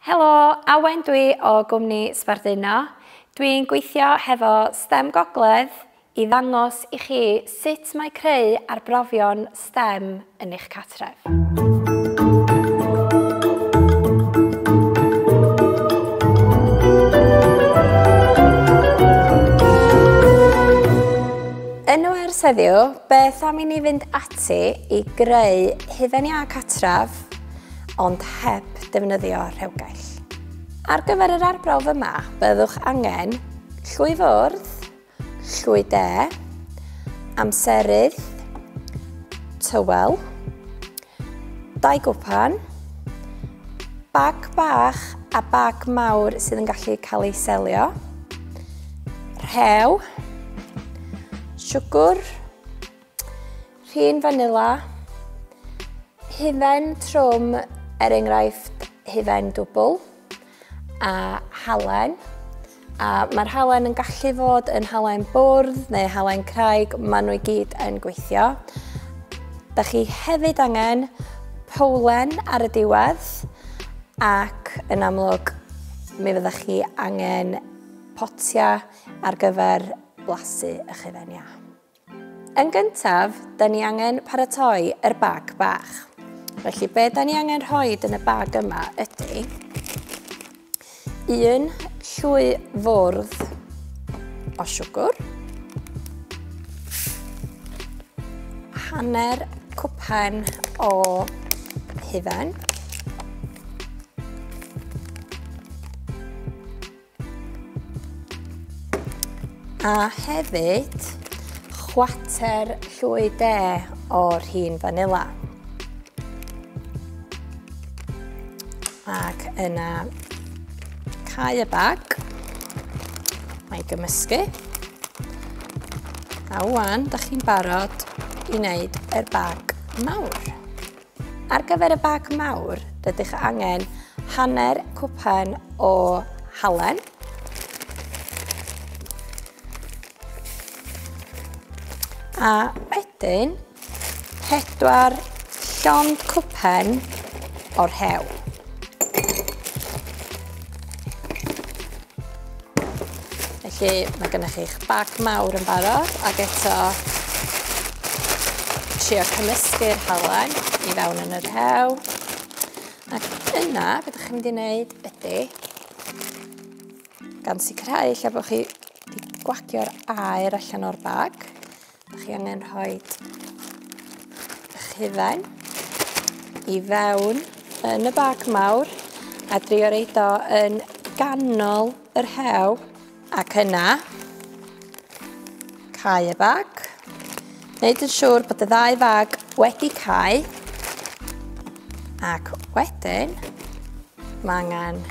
Helo, Awen dwi o gwmni Sbarduno. Dwi'n gweithio hefo stem Gogledd i ddangos i chi sut mae creu arbrofion stem yn eich cartref. Yn ers heddiw, beth am i ni fynd ati i greu hufen iâ cartref ond heb defnyddio rhewgell. Ar gyfer yr arbrawf yma, byddwch angen llwy fwrdd, llwy de, amserydd, tywel, dau gwpan, bag bach a bag mawr sydd yn gallu cael ei selio, rhew, siwgr, Rhin fanila, hufen trwm er enghraifft hufen dwbl a halen. A mae'r halen yn gallu fod yn halen bwrdd neu halen craig, maen nhw i gyd yn gweithio. Da chi hefyd angen powlen ar y diwedd ac yn amlwg mi fydda chi angen potia ar gyfer blasu eich hufen iâ. Yn gyntaf, da ni angen paratoi yr bag bach. Felly, be da ni angen rhoi yn y bag yma ydy un llwy fwrdd o siwgr, hanner cwpan o hufen, A hefyd, chwater llwy de o'r hun fanila. Ac yna cau y bag. Mae gymysgu. A wan, da chi'n barod i wneud yr bag mawr. Ar gyfer y bag mawr, rydych angen hanner cwpan o halen, a wedyn pedwar llond cwpan o'r hew. Felly mae gennych chi'ch bag mawr yn barod ac eto trio cymysgu'r halen i fewn yn yr hew. Ac yna, beth ydych chi'n mynd i wneud ydy, gan sicrhau lle bod chi wedi gwagio'r aer allan o'r bag, Ydych chi angen rhoi eich hufen i fewn yn y bag mawr a drio reid o yn ganol yr hew ac yna cau y bag. Wneud yn siŵr bod y ddau fag wedi cau ac wedyn mae angen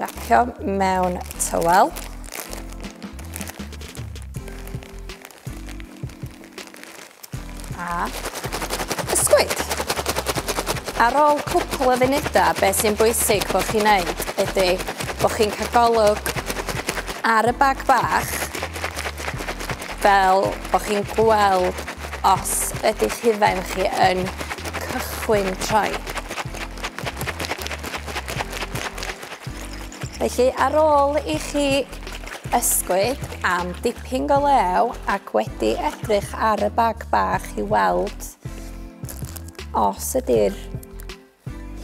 Racio mewn tywel. A ysgwyd. Ar ôl cwpl o funudau, be sy'n bwysig bod chi'n neud ydy bod chi'n cael golwg ar y bag bach fel bod chi'n gweld os ydy hufen chi yn cychwyn troi. Felly, ar ôl i chi ysgwyd am dipyn go lew ac wedi edrych ar y bag bach i weld os ydy'r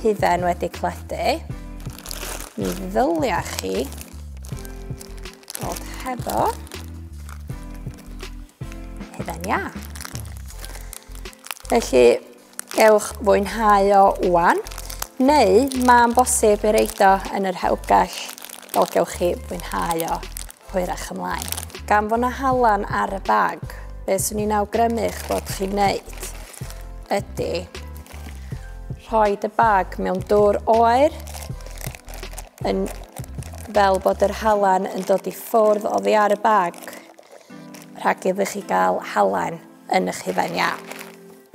hufen wedi cledu, mi ddylia chi bod hefo hufen iâ. Felly, Gewch fwynhau o wan, neu mae'n bosib ei reid o yn yr hewgell, fel gewch chi fwynhau o hwyrach ymlaen. Gan fod na halan ar y bag, beth swn i'n awgrymu'ch bod chi'n neud ydy rhoi y bag mewn dŵr oer yn fel bod yr halan yn dod i ffwrdd oddi ar y bag rhag iddo chi gael halan yn eich hufen iâp.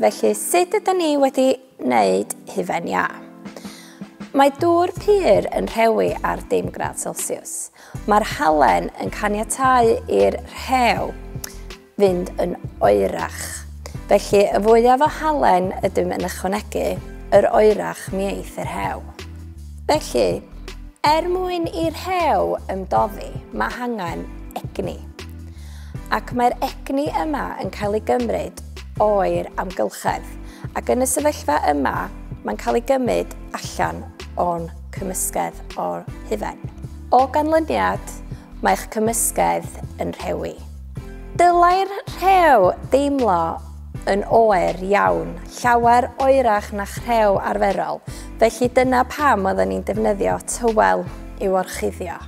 Felly, sut ydyn ni wedi wneud hufen iâ? Mae dŵr pur yn rhewi ar dim gradd Celsius. Mae'r halen yn caniatau i'r rhew fynd yn oerach. Felly, y fwyaf o halen ydym yn ychwanegu, yr oerach mi eith yr rhew. Felly, er mwyn i'r rhew ymdoddi, mae hangen egni. Ac mae'r egni yma yn cael ei gymryd oer amgylchedd, ac yn y sefyllfa yma mae'n cael ei gymryd allan o'n cymysgedd o'r hufen. O ganlyniad, mae'ch cymysgedd yn rhewi. Dylai'r rhew deimlo yn oer iawn, llawer oerach na'ch rhew arferol, felly dyna pam oedden ni'n defnyddio tywel i'w orchuddio.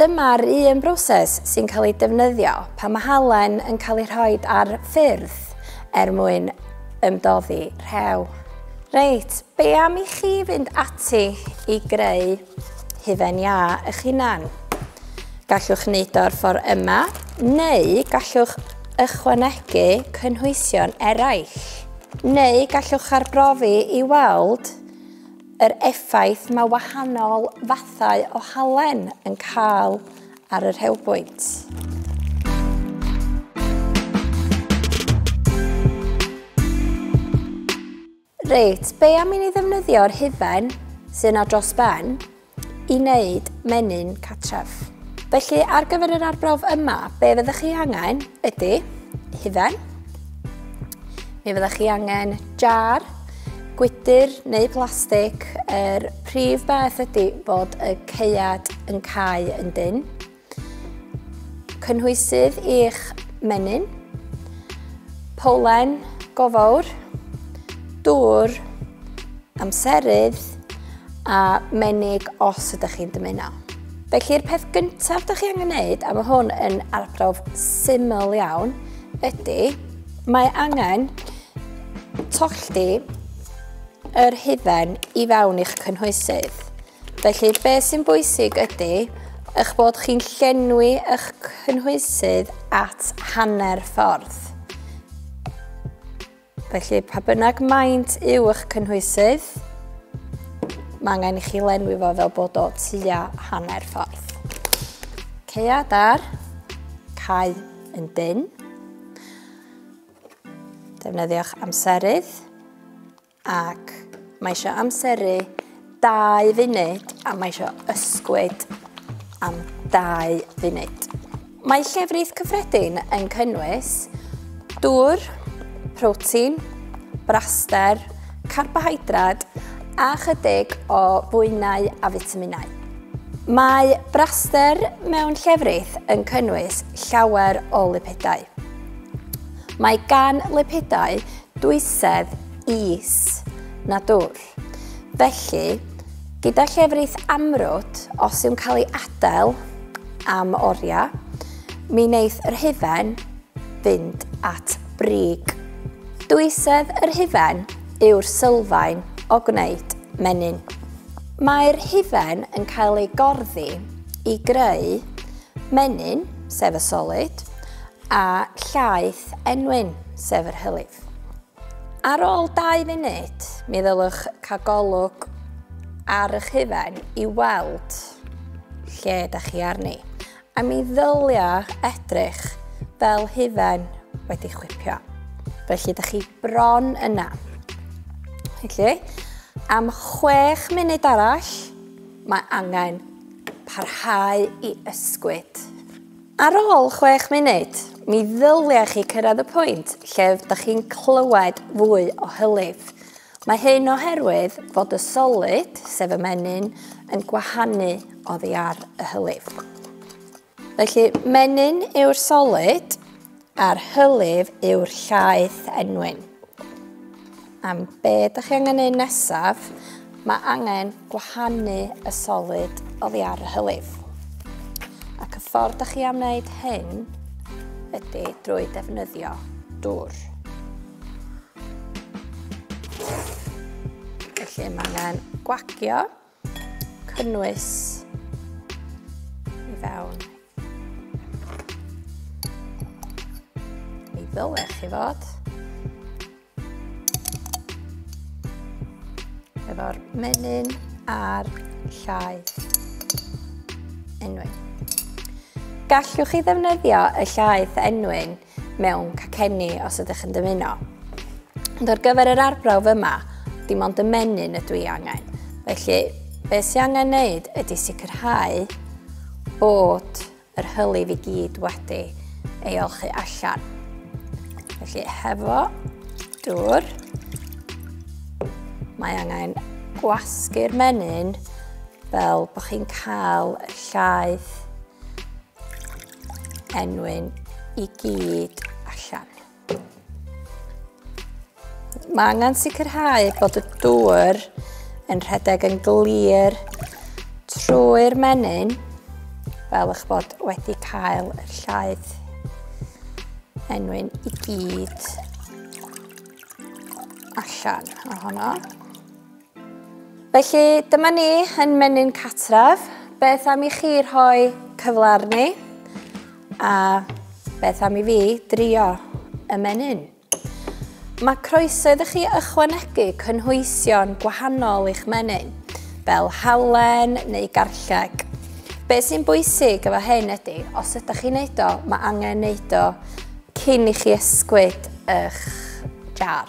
Dyma'r un broses sy'n cael ei defnyddio pan mae halen yn cael ei rhoi ar ffyrdd er mwyn ymdoddi rhew. Reit, be am i chi fynd ati i greu hufen iâ eich hunan? Gallwch wneud o'r ffordd yma, neu gallwch ychwanegu cynhwysion eraill. Neu gallwch arbrofi i weld Yr effaith mae wahanol fathau o halen yn cael ar y rhewbwynt. Reit, be am i ni ddefnyddio'r hufen sy'n na dros ben i wneud menyn catref? Felly ar gyfer yr arbrawf yma, be fyddwch chi angen ydy hufen, mi fyddwch chi angen jar Gwydr neu plastig, yr prif beth ydy bod y caead yn cae yn dyn. Cynhwysydd i'ch menyn. Polen go fawr. Dŵr. Amserydd. A menig os ydych chi'n dymuno. Felly'r peth gyntaf ydych chi angen gwneud, a mae hwn yn arbrawf syml iawn, ydy mae angen Tollti yr hufen i fewn i'ch cynhwysydd. Felly, be sy'n bwysig ydy eich bod chi'n llenwi eich cynhwysydd at hanner ffordd. Felly, pa bynnag maint yw eich cynhwysydd, mae angen i chi lenwi fo fel bod o tua hanner ffordd. Ceia dar, cael yn dyn. Defnyddiwch amserydd ac mae eisiau amseru 2 funud a mae eisiau ysgwyd am 2 funud. Mae llefrith cyffredin yn cynnwys dŵr, protein, braster, carbohydrad a chydig o fwynau a fitaminau. Mae braster mewn llefrith yn cynnwys llawer o lipidau. Mae gan lipidau dwysedd is na dwll. Felly, gyda llefrith amrwd, os yw'n cael ei adael am oriau, mi wneith yr hufen fynd at brig. Dwysedd yr hufen yw'r sylfaen o gwneud menyn. Mae'r hufen yn cael ei gorddi i greu menyn, sef y solid, A llaeth enwyn, sef yr hylif. Ar ôl dau funud, mi ddylwch cael golwg ar eich hufen i weld lle da chi arni. A mi ddylia edrych fel hufen wedi chwipio. Felly, da chi bron yna. Felly, am chwech munud arall, mae angen parhau i ysgwyd. Ar ôl chwech munud, mi ddylia chi cyrraedd y pwynt lle ydych chi'n clywed fwy o hylif. Mae hyn oherwydd fod y solid, sef y menyn, yn gwahanu oddi ar y hylif. Felly, menyn yw'r solid, A'r hylif yw'r llaeth enwyn. Am be da chi angen neud nesaf, mae angen gwahanu y solid oddi ar y hylif. Ac y ffordd da chi am wneud hyn ydy drwy defnyddio dŵr. Felly mae angen gwagio cynnwys i fewn. Mi ddylech chi fod efo'r menyn a'r llaeth. Enwyn. Gallwch chi ddefnyddio y llaeth enwyn mewn cacenni os ydych yn dymuno. Ond ar gyfer yr arbrawf yma, dim ond y menyn ydw i angen. Felly, be sy'n angen wneud ydy sicrhau bod yr hylif i gyd wedi ei olchu allan. Felly, hefo dŵr, mae angen gwasgu'r menyn fel bod chi'n cael llaeth enwyn i gyd allan. Mae angen sicrhau bod y dŵr yn rhedeg yn glir trwy'r menyn fel eich bod wedi cael y llaeth enwyn i gyd allan ohono. Felly, dyma ni yn menyn catref. Beth am i chi rhoi cyfle arni? A beth am i fi drio y menyn? Mae croeso iddo chi ychwanegu cynhwysion gwahanol i'ch menyn, fel halen neu garlleg. Be sy'n bwysig efo hyn ydy, os ydych chi'n neud o, mae angen neud o cyn i chi ysgwyd eich jar.